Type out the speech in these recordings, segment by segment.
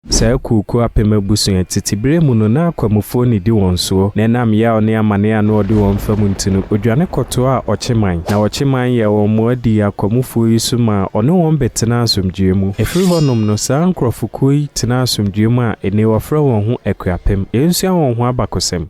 Saa akuokuo apem abusua yi, tete berɛ mu no, na akwamufoɔ nnidi wɔn soɔ, na ɛnam yaw ne amane a na wɔde wɔn fa mu nti no, wɔdwane kɔtoaa Ɔkyeman. Na Ɔkyeman yɛɛ wɔn mmoa dii akwamufoɔ yi so maa ɔne wɔn bɛtenaa asomdwoeɛ mu. Ɛfiri hɔnom no, saa nkurɔfokuo yi tenaa asomdwoeɛ mu a ɛnnɛ yi wɔfrɛ wɔn ho Akuapem. Yɛnsua wɔn ho abakosɛm.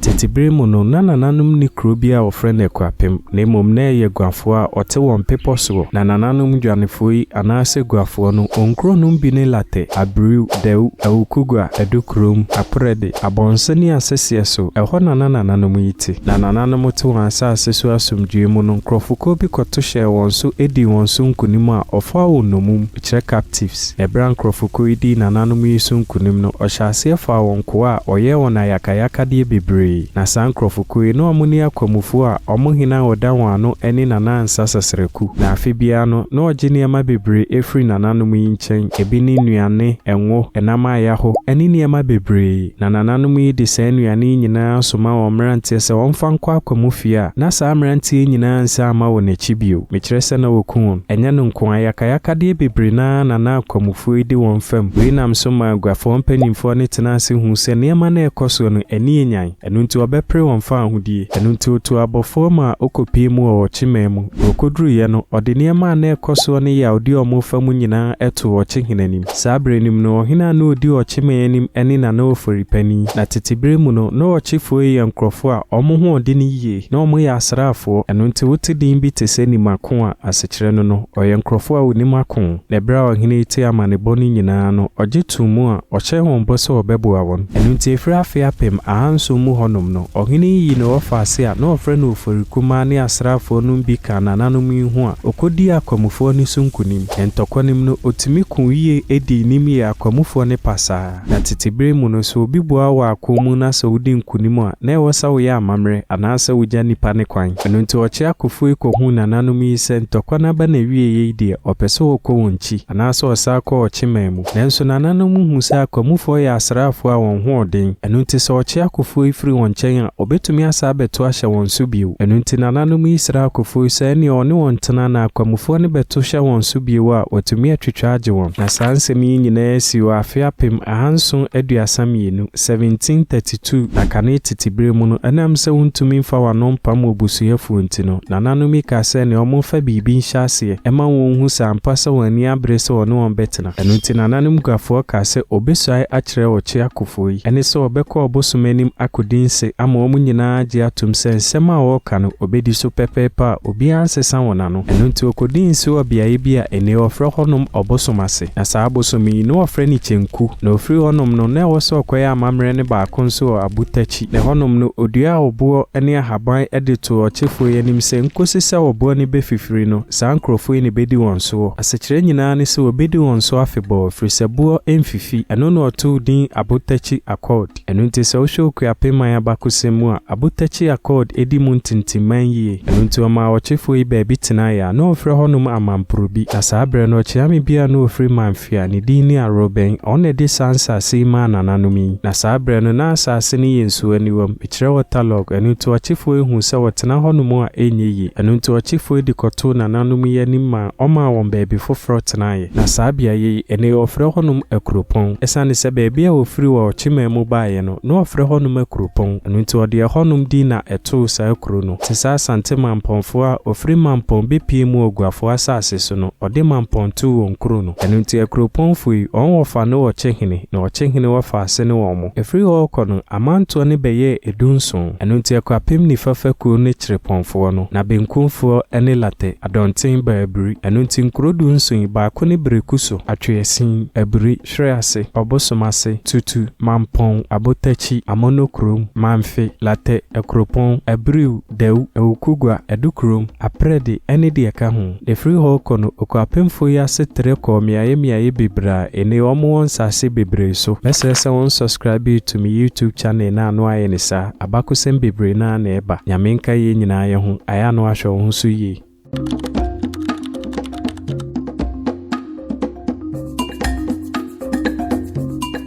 Tete bere mu no, na nananom nni kurow bi a wɔfrɛ no Akuapem, na mmom na ɛyɛ guafoɔ a ɔte wɔn bepɔ soɔ. Na nananom dwanefoɔ yi, anaasɛ guafoɔ no, wɔn kuro nom bi ne Latɛ, Abiriw, Dawu, Awukugua, Adukurom, Aprɛde, Abɔnsa ne Asɛseɛ so. Ɛhɔ na na nananom yi te. Na nananom te wɔn asase so asomdwoeɛ mu no, nkurɔfokuo bi kɔto hyɛɛ wɔn so dii wɔn so nkonim a ɔfaa wɔn nnomum. kyerɛ captives. Ɛberɛ a nkorɔfokuo yi dii nananom yi so nkunim no, ɔhyɛɛ aseɛ faa wɔn nkoa a ɔyɛɛ wɔn ayakayakadeɛ bebree. Na saa nkorɔfokuo yi, na wɔn ne akwamufoɔ a wɔn hene a ɔda wɔn ano ne Nana Ansa Sasraku. Na afe biara no, na ɔgye nneɛma bebree firi nananom yi nkyɛn, ebi ne nnuane, ngo, nam a yɛaho, ne nneɛma bebree. Na nananom yi de saa nnuane yi nyinaa soma wɔn mmeranteɛ sɛ wɔmfa nkɔ akwa mu fie a, na saa mmeranteɛ yi nyinaa nsan mma wɔn akyi bio. Mekyerɛ sɛ na wɔku wɔn. Ɛnyɛ no nko ara, yakayakadeɛ bebree no ara na na akwamufoɔ yi di wɔn fam. Wei nam so maa aguafoɔ mpanimfoɔ no tenaa ase huu sɛ nneɛma no a ɛrekɔ soɔ no, ani yɛ nyan. Ɛno nti wɔbɛpere wɔn faa ahodie. Ɛno nti ɔtuu abɔfoɔ mu a ɔkɔpiee mu wɔ ɔkyeman mu. Deɛ ɔkɔduruiɛ no, ɔde nneɛma a na ɛrekɔ soɔ ne yea a ɔdi wɔn fa mu nyinaa too ɔkyehene anim. Saa bere no mu no, ɔhene a na odi ɔkyeman anim ne na na ɔfori panin. Na tete bere mu no, na ɔkyefoɔ yɛ nkurɔfoɔ a wɔn ho ɔden yie, na wɔyɛ asraafoɔ, ɛno nti wote din bi te sɛ Nim Ako a asekyerɛ no no, ɔyɛ nkurɔfoɔ a wɔnim ako. Na berɛ a ɔhene yi tee amanebɔ no nyinaa no, ɔgye too mu a ɔhyɛɛ wɔn bɔ sɛ ɔbɛboa wɔn. Ɛno nti ɛfiri afe apem ahanson mu hɔnom no, ɔhene yi yii ne ɔfaase a na wɔfrɛ no Ofori Kumaa ne asraafoɔ nom bi kaa nananom yi ho a ɔkɔdii akwamufoɔ no so nkonim. Ntɔkwa no mu no, otumi ko yiye, di nim yɛ akwamufo ne pasaa. Na tete bere mu no, sɛ obi boa wɔ ako mu na sɛ wodi nkonim a, na ɛwɔ sɛ woyɛ amammerɛ anaasɛ wugya nnipa no kwan. Ɛno nti, ɔkyerɛ akofo yi kohuu nananom yi sɛ ntɔkwa no aba n'awiei yi deɛ, ɔpɛ sɛ ɔkɔ wɔn nkyi, anaasɛ ɔsan kɔ ɔkye man mu. Nanso nananom no hu sɛ akwamufoɔ yɛ asraafoɔ a wɔn ho ɔden, ɛno nti sɛ ɔkye akofoɔ yi firi wɔn nkyɛn a, ɔbɛtumi asan abɛto ahyɛ wɔn so bio. Ɛno nti nananom yi srɛɛ akofoɔ yi sɛ ɛnneɛ ɔne wɔn ntena na akwamufoɔ no bɛto hyɛ wɔn so bio a, wɔatumi atwitwa agye wɔn. Na saa nsɛm yi nyinaa sii wɔ afe apem ahanson aduasa mmienu, 1732, na kane tete berɛ mu no, ɛnam sɛ wontumi mfa wɔn ano mpam wɔn busuafoɔ nti no, nananom yi kaa sɛ ɛnneɛ wɔmfa biribi nhyɛ aseɛ, aseɛ. Ɛma wɔn hu sɛ ampa sɛ wɔn ani abere sɛ wɔne wɔn bɛtena. Ɛno nti nananom Guafoɔ kaa sɛ wɔbɛsuae akyerɛ Ɔkye akofoɔ yi, ɛne sɛ wɔbɛkɔ ɔbosom anim akɔdi nse ama wɔn nyinaa agye atom sɛ nsɛm a wɔreka no wɔbɛdi so pɛpɛɛpɛ a obiara nsesa wɔn ano. Ɛno nti wɔkɔdii nse wɔ beaeɛ bi a ennɛ wɔfrɛ hɔnom Ɔbosom ase. Na saa abosom yi, na wɔfrɛ no Kyenku. Na ɔfiri hɔnom no, na ɛwɔ sɛ ɔkɔyɛ amammerɛ no baako nso wɔ Abutakyi. Na hɔnom no ɔduaa ɔboɔ ne ahaban de too ɔkyefoɔ yi anim sɛ, Nkɔsi sɛ ɔboɔ no bɛfifiri no, saa nkurɔfoɔ yi na ɛbɛdi wɔn soɔ. Asekyerɛ nyinaa ne sɛ wɔbɛdi wɔn so afebɔɔ, ɛfiri sɛ boɔ mfifi. Ɛno na ɔtoo din Abotakyi Accord. Ɛno nti sɛ wohwɛ Okuapem man abakɔsɛm mu a, Abotakyi Accord di mu ntintimman yie. Ɛno nti wɔmaa ɔkyefoɔ yi baabi tenaeɛ a na wɔfrɛ hɔnom Amanporobi. Na saa berɛ no ɔkyeame bi a na ɔfiri Manfea, ne din ne Arobɛn, ɔno na ɛde saa nsaase yi maa nananom yi. Na saa berɛ no na asaase no yɛ nsuaniwam, mekyerɛ waterlogged, ɛno nti ɔkyefoɔ yi huu sɛ wɔtena hɔnom a ɛnyɛ yie, ɛno nti ɔkyefoɔ yi de kɔtoo nananom yi anim maa ɔmaa wɔn baabi foforɔ tenaeɛ. Na saa beaeɛ yi, ɛnnɛ yi wɔfrɛ hɔnom Akuropɔn, ɛsiane sɛ baabi a ɔfiri wɔ ɔkyemaa mu baeɛ no, na wɔfrɛ hɔnom Akuropɔn, ɛno nti ɔde ɛhɔnom din na ɛtoo saa kuro no. Te sɛ Asante Mampɔnfoɔ a ɔfiri Mampɔn bɛpue mu wɔ Guafoɔ asaase so no, ɔde Mampɔn too wɔn kuro no. Ɛno nti akuropɔn fo yi, wɔn wɔfa ne wɔkye hene, na wɔkye hene wɔfa ase ne wɔn mo. Ɛfiri hɔ rekɔ no, amantoɔ no bɛyɛɛ edu nson. Ɛno nti akuapem nifa fa kuo ne Kyerepɔn foɔ no, na benkum foɔ ne Latɛ, Adɔnten, ba Abiri. Ɛno nti nkuro du nson yi, baako ne Bereku so, Atweasin, Abiri, Hwere ase, Ɔbosom ase, Tutu, Mampɔn, Abotakyi, Amono kurom, Manfe, Latɛ, Akuropɔn, Abiriw, Dawu, Awukogua, Adukurom, Aprɛde, ne deɛ ɛka ho. Efiri hɔ rekɔ no, okuapemfoɔ yi ase trɛ kɔɔ mmeaeɛ mmeaeɛ bebree a ene wɔn wɔ nsaase bebree so. Mɛsrɛ sɛ wɔn subscribe to me YouTube channel no ano ayɛ ne saa, abakosɛm bebree no ara na ɛba. Nyame nka yɛn nyinaa yɛ ho, ayɛ ano ahwɛ wo ho so yie.